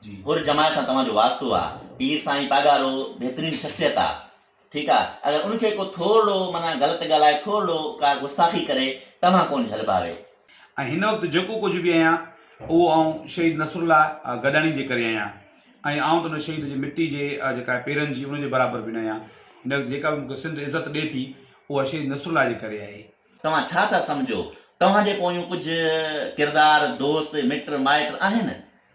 ھر جماعت سان توھان جو واسطو آ. پير سائين پاڳارو بھترين شخصيت آ ٺيڪ آ اگر ان کي ڪو ٿورڙو معنيٰ غلط ڳالھائي ٿورڙو ڪا گستاخي ڪري توھان ڪون جھل پاوي. ۽ ھن وقت جيڪو ڪجھ به آھيان اھو آئون شھيد نصرالله گڏاڻي جي ڪري آھيان ۽ آئون ته ان شھيد جي مٽي جي جيڪا آھي پيرن جي ان جي برابر به نه آھيان ھن وقت جيڪا به مون کي سنڌ عزت ڏي ٿي اھا شھيد نصرالله جي ڪري آھي. توھان ڇا ٿا سمجھو توھان جي پويون ڪجھ ڪردار دوست مٽ مائٽ آھن.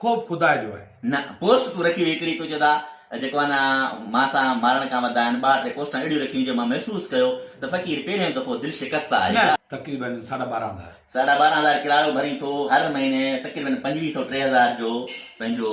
خوف خدا جو آهي. نه پوسٽ تون رکي هئي هڪڙي تو چدا جيڪو آ نه مان سان مارڻ کان وڌا آهن ٻاهر ٽي پوسٽان اهڙيون رکيون جو مان محسوس ڪيو ته فقير پهريون دفعو دل شڪسته آهي. تقريباً ساڍا ٻارهن هزار. ساڍا ٻارهن هزار ڪرايو ڀرين ٿو هر مهيني تقريباً پنجويهه سؤ ٽي هزار جو پنهنجو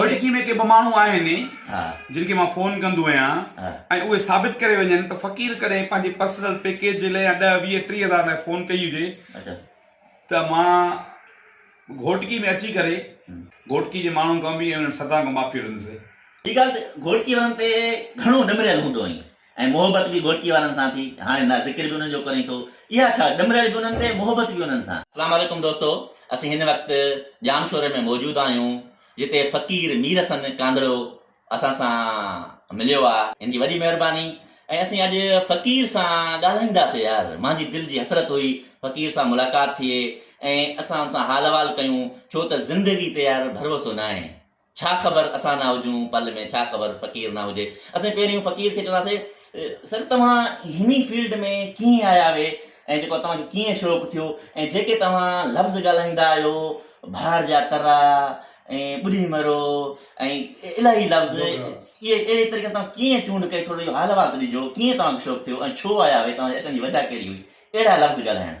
آمريڪي ۾ ڪي ٻه ماڻهو آهن جن کي مان فون ڪندو آهيان ۽ اهي ثابت ڪري وڃن ته فقير ڪڏهن پنهنجي پرسنل پيڪيج جي لاء يا ڏهه ويهه ٽيهه هزار لاء فون ڪئي هجي ته مان گهوٽڪي ۾ اچي ڪري گهوٽڪي جي ماڻهن کان به ۽ انهن سدان کان معافي وٺندس. هي ڳالهه ته گهوٽڪي وارن تي گهڻو نمريل هوندو آهين. ۽ محبت به گهوٽڪي وارن سان ٿي. هاڻي نه ذڪر به انهن جو ڪرين ٿو. اها ڇا، ڏمريل به انهن تي، محبت به انهن سان. اسلام عليڪم دوستو اسين هن وقت ڄام شوري ۾ موجود آهيون جتي فقير مير حسن ڪانڌڙو اسان سان مليو آ هن جي وڏي مهرباني ۽ اسين اڄ فقير سان ڳالهائينداسي يار مانجي دل جي حسرت هئي فقير سان ملاقات ٿئي ۽ اسان ان سان حال احوال ڪيون ڇو ته زندگي تي يار ڀروسو ناهي ڇا خبر اسان نه هجون پل ۾، ڇا خبر فقير نه هجي. اسين پهريون فقير کي چونداسين سر توهان هني فيلڊ ۾ ڪيئن آيا اهي ۽ جيڪو توهان کي ڪيئن شوق ٿيو ۽ جيڪي توهان لفظ ڳالهائيندا آهيو ڀاڙ جا ترا ۽ ٻڏي مرو ۽ الاهي لفظ اهي اهڙي طريقي سان ڪيئن چونڊ ڪئي ٿورو اهو حال احوال ته ڏجو ڪيئن توهان کي شوق ٿيو ۽ ڇو آيا اهي توهان جي اچڻ جي وجهه ڪهڙي هئي اهڙا لفظ ڳالهائڻ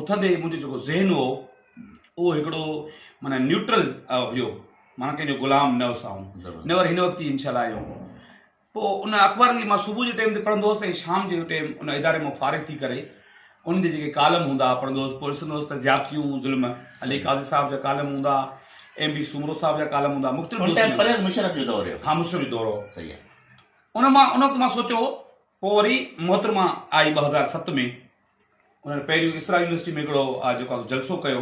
اٿندي ئي منهنجو جيڪو ذهن هو اهو هڪڙو معنيٰ نيوٽرل هيو معنيٰ ڪنهن جو غلام نه هوس آئون نيور هن وقت ئي انشاء الله آيو هوم پوء ان اخبارن کي مان صبح جي ٽيم تي پڙهندو هوس ۽ شام جي ٽيم ان اداري مان فارغ ٿي ڪري ان جا جيڪي ڪالم هوندا هئا پڙهندو هوس پوء ڏسندو هوس ته زيادتيون ظلم علي قاضي صاحب جا ڪالم هوندا ايم بي سومرو صاحب جا ڪالم هوندا مختلف ان ٽائيم پرويز مشرف جو دور هيو ها مشرف جو دور هو صحيح آهي ان مان ان وقت مان سوچيو پوء وري محترمه آئي ٻه هزار ست ۾ انهن پهريون اسرا يونيورسٽي ۾ هڪڙو آ جيڪو آ سو جلسو ڪيو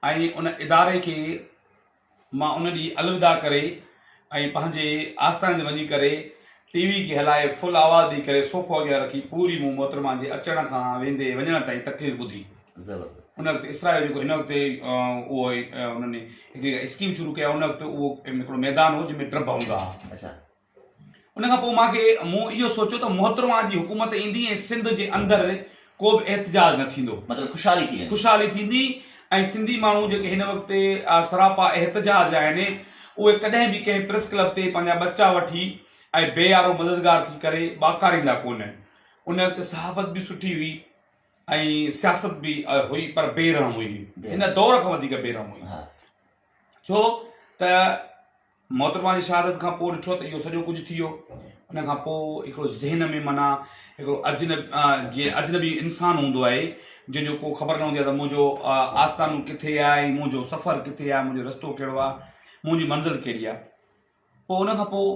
۽ ان اداري کي مان ان ڏينهن الوداع ڪري ۽ پنهنجي آستان تي وڃي ڪري ٽي وي کي هلائي فل آواز ڏئي ڪري صوفو اڳيان رکي پوري مون محترمه جي اچڻ کان ويندي وڃڻ تائين تقرير ٻڌي. زبردست. ان وقت اسرا جو جيڪو هن وقت اهو انهن هڪڙي اسڪيم شروع ڪئي ان وقت اهو هڪڙو ميدان هو جنهن ۾ ٽربه هوندا هئا. اڇا. ان کان پوء مان کي مون اهو سوچيو ته محترمه جي حڪومت ايندي ۽ سنڌ جي اندر ڪو به احتجاج نه ٿيندو. مطلب خوشحالي ٿي ويندي. خوشحالي ٿيندي ۽ سنڌي ماڻهو جيڪي هن وقت سراپا احتجاج آهن اهي ڪڏهن به ڪنهن پريس ڪلب تي پنهنجا ٻچا وٺي ۽ بي يارو مددگار ٿي ڪري ٻاڪاريندا ڪونهن. ان وقت صحافت به سٺي هئي ۽ سياست به هئي پر بي رحم هئي. هن دور کان وڌيڪ بي رحم هئي. ڇو ته محترمه جي شهادت کان پوء ڏٺو ته اهو سڄو ڪجهه ٿي ويو. ان کان پوء هڪڙو ذهن ۾ معنيٰ هڪڙو اجنب جيئن اجنبي انسان هوندو آهي، جنهن جو ڪو خبر نه هوندي آهي ته منهنجو آستانو ڪٿي آهي ۽ منهنجو سفر ڪٿي آهي، منهنجو رستو ڪهڙو آهي، منهنجي منزل ڪهڙي آهي. پوء ان کان پوء.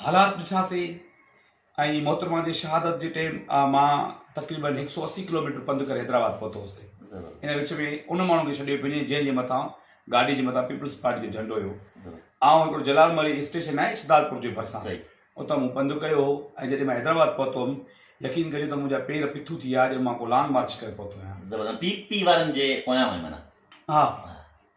حالات ڏٺا سي ۽ محترمه جي شهادت جي ٽيم مان تقريبن هڪ سؤ اسي ڪلوميٽر پنڌ ڪري حيدرآباد پهتو هوسي ان وچ ۾ ان ماڻهو کي ڇڏيو پيو وڃي جنهن جي مٿان گاڏي جي مٿان پيپلز پارٽي جو جهنڊو هيو آئون هڪڙو جلال مري اسٽيشن آهي شهدادپور جي ڀرسان اتان مون پنڌ ڪيو هو ۽ جڏهن مان حيدرآباد پهتو هيم يقين ڪجو ته منهنجا پير پٿو ٿي ويا ڄڻ مان ڪو لانگ مارچ ڪري پهتو آهيان پي پي وارن جي پويان هئي معنيٰ ها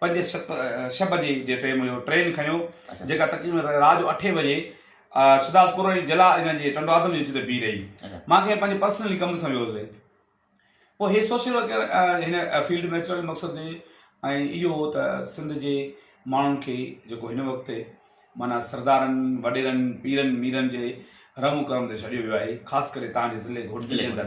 پنج ست ڇهه بجي جي ٽيم هيو ٽرين کنيو جيڪا تقريبن رات جو اٺين بجي سدات پور ۽ جلا انهن جي ٽنڊو آدم جي وچ تي بيهي رهي مان کي پنهنجي پرسنلي ڪم سان ويو هوسي پوء هي سوشل ورڪ هن فيلڊ ۾ اچڻ جو مقصد هي ۽ اهو هو ته سنڌ جي ماڻهن کي جيڪو هن وقت تي مانا سردارن وڏيرن پيرن ميرن جي رحم و ڪرم تي ڇڏيو ويو آهي خاص ڪري تان جي ضلعي گهوٽ ضلعي اندر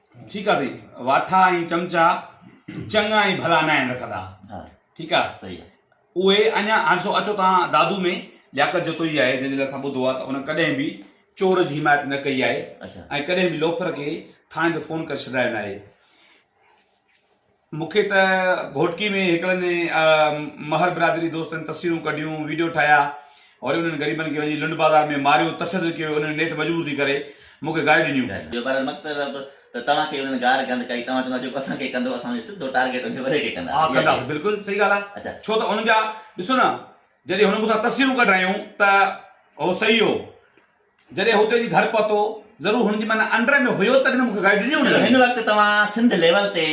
ٺيڪ آ سائين واٺا ۽ چمچا چڱا ۽ ڀلا ناهن رکندا ها ٺيڪ آ سهي آ اهي اڃا هاڻسو اچو توهان دادو ۾ لياقت جتوئي آهي جنهن جي لاء اسان ٻڌو آ ته ان ڪڏهن به چور جي حمايت نه ڪئي آهي اڇا ۽ ڪڏهن به لوفر کي ٿاڻي تي فون ڪري سڏايو ناهي. مون کي ته گهوٽڪي ۾ هڪڙن مهر برادري دوستن تصويرون ڪڍيون، ويڊيو ٺاهيا، وري انهن غريبن کي وڃي لنڊ بازار ۾ ماريو، تشدد ڪيو ويو، انهن نيٺ مجبور ٿي ڪري مون کي گاريون ڏنيون. جو بهرحال مطلب ته توهان کي انهن گار گند ڪئي، توهان چوندا جيڪو اسان کي ڪندو اسان جو سڌو ٽارگيٽ انهي وري کي ڪنداسين. ها ڪنداسين بلڪل صحيح ڳالهه آهي ڇو ته انهن جا ڏسو نه جڏهن هن مون سان تصويرون ڪڍرايون ته هو صحيح هو. جڏهن هو اتي وڃي گهر پهتو، ضرور هن جي من انڊر ۾ هيو تڏهن مون کي گهر ڏني هوندي. چلو هن وقت توهان سنڌ ليول تي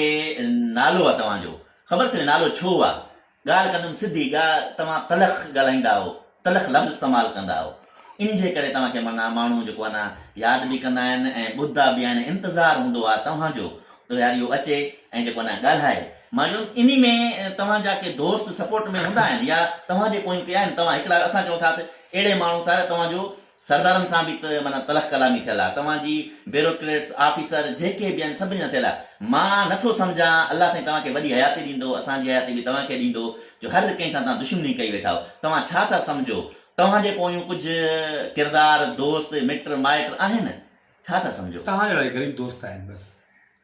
نالو آ توهان جو خبر ٿيندي نالو ڇو آ ڳالهه ڪندم سڌي ڳالهه توهان تلخ ڳالهائيندا آهو تلخ لفظ استعمال ڪندا آهو ان جي ڪري توهان کي معنيٰ ماڻهو جيڪو آ نه ياد به ڪندا آهن ۽ ٻڌدا به آهن انتظار هوندو آ توهان جو ته يار اهو اچي ۽ جيڪو آ نه ڳالهائي مان چيو انهي ۾ توهان جا ڪي دوست سپورٽ ۾ هوندا آهن يا توهان جي پويون ڪي آهن توهان هڪڙا اسان چئون ٿا ته اهڙي ماڻهو سان توهان جو سردارن سان به معنيٰ تلخ ڪلامي ٿيل آهي، توهان جي بيروڪريٽس، آفيسر جيڪي به آهن سڀني سان ٿيل آهي. مان نه ٿو سمجهان الله سائين توهان کي وڏي حياتي ڏيندو، اسان جي حياتي به توهان کي ڏيندو جو هر ڪنهن سان توهان دشمني ڪئي ويٺا آهيو. توهان ڇا ٿا سمجهو توهان جي پويون ڪجهه ڪردار، دوست، مٽ مائٽ آهن؟ ڇا ٿا سمجهو؟ توهان جهڙا ئي غريب دوست آهن بس.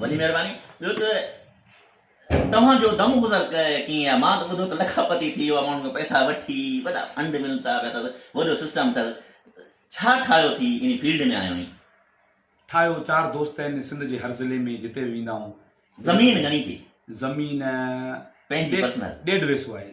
وڏي مهرباني. ٻيو ته توهان جو دم گذر ڪيئن آهي؟ مان ته ٻڌو ته لکا پتي ٿي ويو آهي، ماڻهن کان پئسا وٺي وڏا فنڊ ملتا پيا اٿس، وڏو سسٽم اٿس، ڇا ٺاهيو ٿي ان فيلڊ ۾ آيو آهين؟ ٺاهيو چار دوست آهن سنڌ جي هر ضلعي ۾ جتي به ويندا آهيون. زمين گهڻي ٿي؟ زمين پنهنجي پرسنل؟ ڏيڍ ويسو آهي.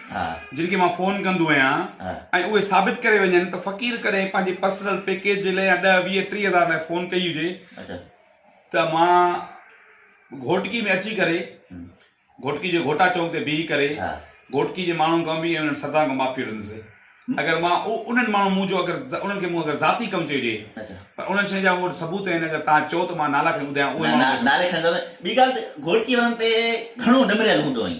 جن کي مان فون ڪندو آهيان ۽ اهي ثابت ڪري وڃن ته فقير ڪڏهن پنهنجي پرسنل پيڪيج جي لاء يا ڏهه ويهه ٽيهه هزار لاء فون ڪئي هجي ته مان گهوٽڪي ۾ اچي ڪري گهوٽڪي جي گهوٽا چوڪ تي بيهي ڪري گهوٽڪي جي ماڻهن کان به انهن سردارن کان معافي وٺندس اگر مان انهن ماڻهن مون جو اگر انهن کي مون اگر ذاتي ڪم چيو هجي پر انهن شين جا مون وٽ ثبوت آهن اگر توهان چئو ته مان نالا کڻي ٻڌايان اهي ماڻهو ٻي ڳالهه ته گهوٽڪي وارن تي گهڻو نمريل هوندو آهين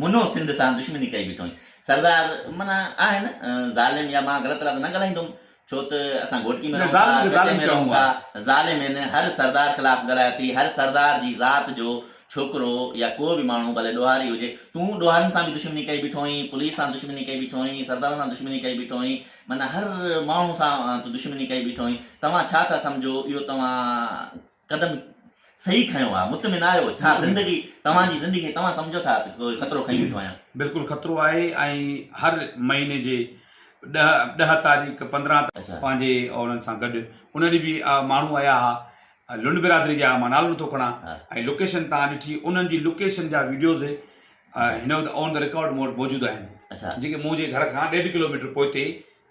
منو سنڌ سان دشمني ڪئي بيٺوئين. سردار، معنيٰ آهي نه ظالم يا مان غلط رات نه ڳالهائيندوم ڇو ته اسان گهوٽڪي ۾ رهون ٿا، ڳچي ۾ رهون ٿا. ظالم هن هر سردار خلاف ڳالهايو ٿي، هر سردار جي ذات جو ڇوڪرو يا ڪو به ماڻهو ڀلي ڏوهاري هجي. تون ڏوهارين سان به دشمني ڪئي بيٺوئين، پوليس سان دشمني ڪئي بيٺوئين، سردارن سان دشمني ڪئي بيٺوئين، معنيٰ هر ماڻهو سان تون دشمني ڪئي بيٺوئين. توهان ڇا ٿا سمجهو اهو توهان قدم صحيح کنيو آ مطمئن آهيو ڇا زندگي توهان جي زندگي کي توهان سمجهو ٿا ته ڪو خطرو کڻي ويٺو آهيان. بلڪل خطرو آهي ۽ هر مهيني جي ڏهه ڏهه تاريخ پندرهن تاريخ اڇا. پنهنجي اولن سان گڏ ان ڏينهن به ماڻهو آيا ها لنڊ برادري جا مان نالو نٿو کڻان ها. ۽ لوڪيشن تان ڏٺي انهن جي لوڪيشن جا ويڊيوز اڇا. هن وقت آن دي رڪارڊ مون وٽ موجود آهن اڇا. جيڪي منهنجي گهر کان ڏيڍ ڪلوميٽر پوئتي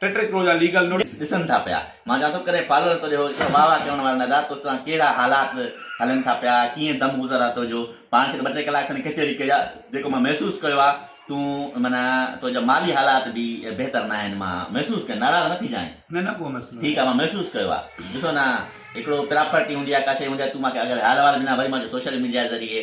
ٽي ٽي ڪروڙ جا ليگل نوٽيس ڏسن ٿا پيا مان چوان ٿو ڪڏهن فالوور تنهنجو هو ته واهه واهه ڪرڻ وارن ادا تو سان ڪهڙا حالات هلن ٿا پيا ڪيئن دم گذر آ تنهنجو پاڻ کي ته ٻه ٽي ڪلاڪ کن ڪچهري ڪئي آ جيڪو مان محسوس ڪيو آ تون معنيٰ تنهنجا مالي حالات به بهتر ناهن مان محسوس ڪيو ناراض نه ٿيجانء. نه نه ڪو مسئلو ٺيڪ آ مان محسوس ڪيو آ ڏسو نه هڪڙو پراپرٽي هوندي آ ڪا شئي هوندي آ تون مان کي اگر حال احوال ڏنا وري مان جو سوشل ميڊيا ذريعي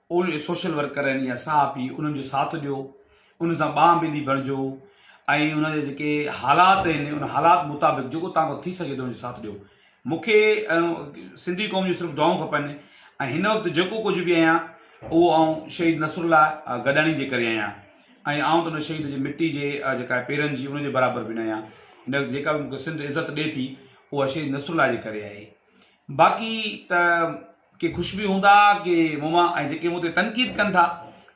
اهي سوشل ورڪر آهن يا صحافي انهن جو ساٿ ڏيو انهن سان ٻانهن ٻيلي بڻجو ۽ انهن جا جيڪي حالات آهن ان حالات مطابق جيڪو تان کان ٿي سگهي ٿو انهن جو ساٿ ڏيو مون کي سنڌي قوم جون صرف دعائون کپن ۽ هن وقت جيڪو ڪجهه به آهيان اهو آئون شهيد نصر الله گڏاڻي جي ڪري آهيان ۽ آئون ته ان شهيد جي مٽي جي جيڪا آهي پيرن جي ان جي برابر به نه آهيان هن وقت جيڪا به مون کي سنڌ عزت ڏي ٿي اها شهيد نصر الله جي ڪري آهي باقي ته ڪي خوش به هوندا ڪي مون مان ۽ جيڪي مون تي تنقيد ڪن ٿا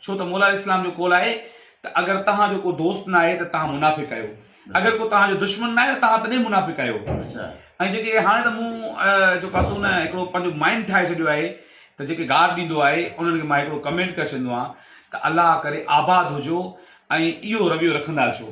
ڇو ته مولا عليه السلام جو قول آهي ته اگر توهان جو ڪو دوست ناهي ته توهان منافق آهيو اگر ڪو توهان جو دشمن ناهي ته توهان تڏهن منافق آهيو ۽ جيڪي هاڻي ته مون جو ڪاسو نه هڪڙو پنهنجو مائنڊ ٺاهي ڇڏيو آهي ته جيڪي گار ڏيندو آهي انهن کي مان هڪڙو ڪمينٽ ڪري ڇڏيندو آهيان ته الله ڪري آباد هجو ۽ اهو رويو رکندا اچو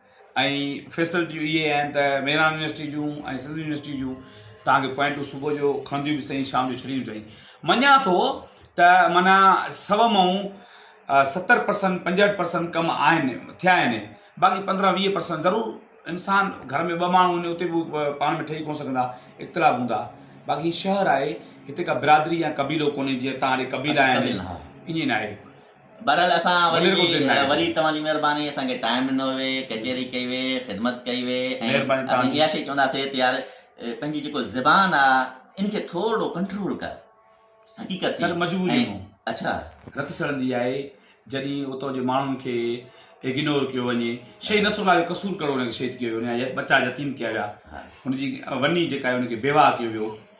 ۽ فيسلٽيون اهي آهن ته ميران يونيورسٽي جون ۽ سنڌ يونيورسٽي جون توهان کي پوائنٽون صبح جو کڻنديون به سهي شام جو ڇڏينديون سهي مڃان ٿو ته معنيٰ سو مئون ستر پرسنٽ پنجهٺ پرسنٽ ڪم آهن ٿيا آهن باقي پندرهن ويهه پرسنٽ ضرور انسان گهر ۾ ٻه ماڻهو هن اتي به پاڻ ۾ ٺهي ڪونه سگهندا اختلاف هوندا باقي هي شهر آهي هتي ڪا برادري يا قبيلو ڪونهي جيئن تان ڏي قبيلا آهن ائين ناهي بهرحال اسان وري وري توهان جي مهرباني اسان کي ٽائيم ڏنو وي ڪچهري ڪئي وي خدمت ڪئي وي ۽ اسين اها شي چونداسين ته يار پنهنجي جيڪو زبان آ ان کي ٿورڙو ڪنٽرول ڪر حقيقت سر مجبوري ۾ اڇا رت سڙندي آهي جڏهن اتو جي ماڻهن کي اگنور ڪيو وڃي شيخ نصر الله جو قصور ڪهڙو ان کي شهيد ڪيو ويو ان جا ٻچا يتيم ڪيا ويا ان جي وني جيڪا آهي ان کي بيواهه ڪيو ويو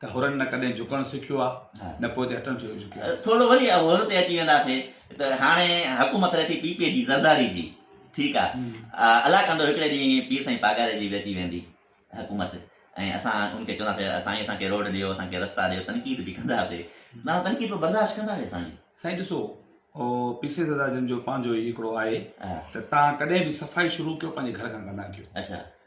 ته حرن نه ڪڏهن جهڪڻ سکيو آ نه پوئتي هٽڻ جو جهڪيو آ. ٿورو وري حر تي اچي وينداسي ته هاڻي حڪومت رهي ٿي پي پي جي زرداري جي ٺيڪ آ الله ڪندو هڪڙي ڏينهن پير سائين پاڳاري جي به اچي ويندي حڪومت ۽ اسان ان کي چونداسي سائين اسان کي روڊ ڏيو اسان کي رستا ڏيو تنقيد به ڪنداسي تنهن تنقيد به برداشت ڪنداسي سائين. سائين ڏسو او پي سي زردار جن جو پنهنجو ئي هڪڙو آهي ته تان ڪڏهن به صفائي شروع ڪيو پنهنجي گهر کان ڪندا ڪيو اڇا.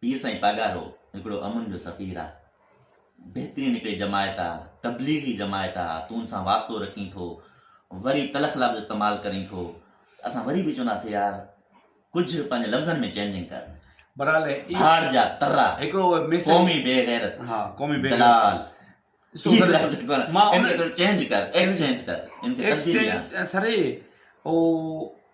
پير سائين پاڳارو هڪڙو امن جو سفير آ بهترين هڪڙي جماعت آ تبليغي جماعت آ تون سان واسطو رکين ٿو وري تلخ لفظ استعمال ڪرين ٿو اسان وري به چوندا سي يار ڪجهه پنهنجي لفظن ۾ چينجنگ ڪر برحال ڀاڙ جا ترا هڪڙو ميسج قومي بي غيرت ها قومي بي دلال مان ان چينج ڪر ايڪسچينج ڪر ان کي تبديلي آ سري او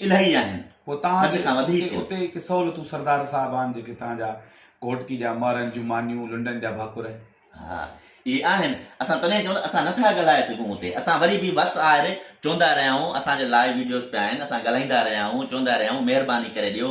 الائي آهن حد کان وڌيڪ. اتي هڪ سهولتون سردار صاحب آهن جيڪي تان جا گهوٽڪي جا مهرن جون مانيون لنڊن جا ڀاڪر. ها اهي آهن اسان تڏهن چئون ته اسان نه ٿا ڳالهائي سگهون اتي اسان وري به بس آهر چوندا رهيا آهون اسان جا لائيو ويڊيوز پيا آهن اسان ڳالهائيندا رهيا آهون چوندا رهيا آهون مهرباني ڪري ڏيو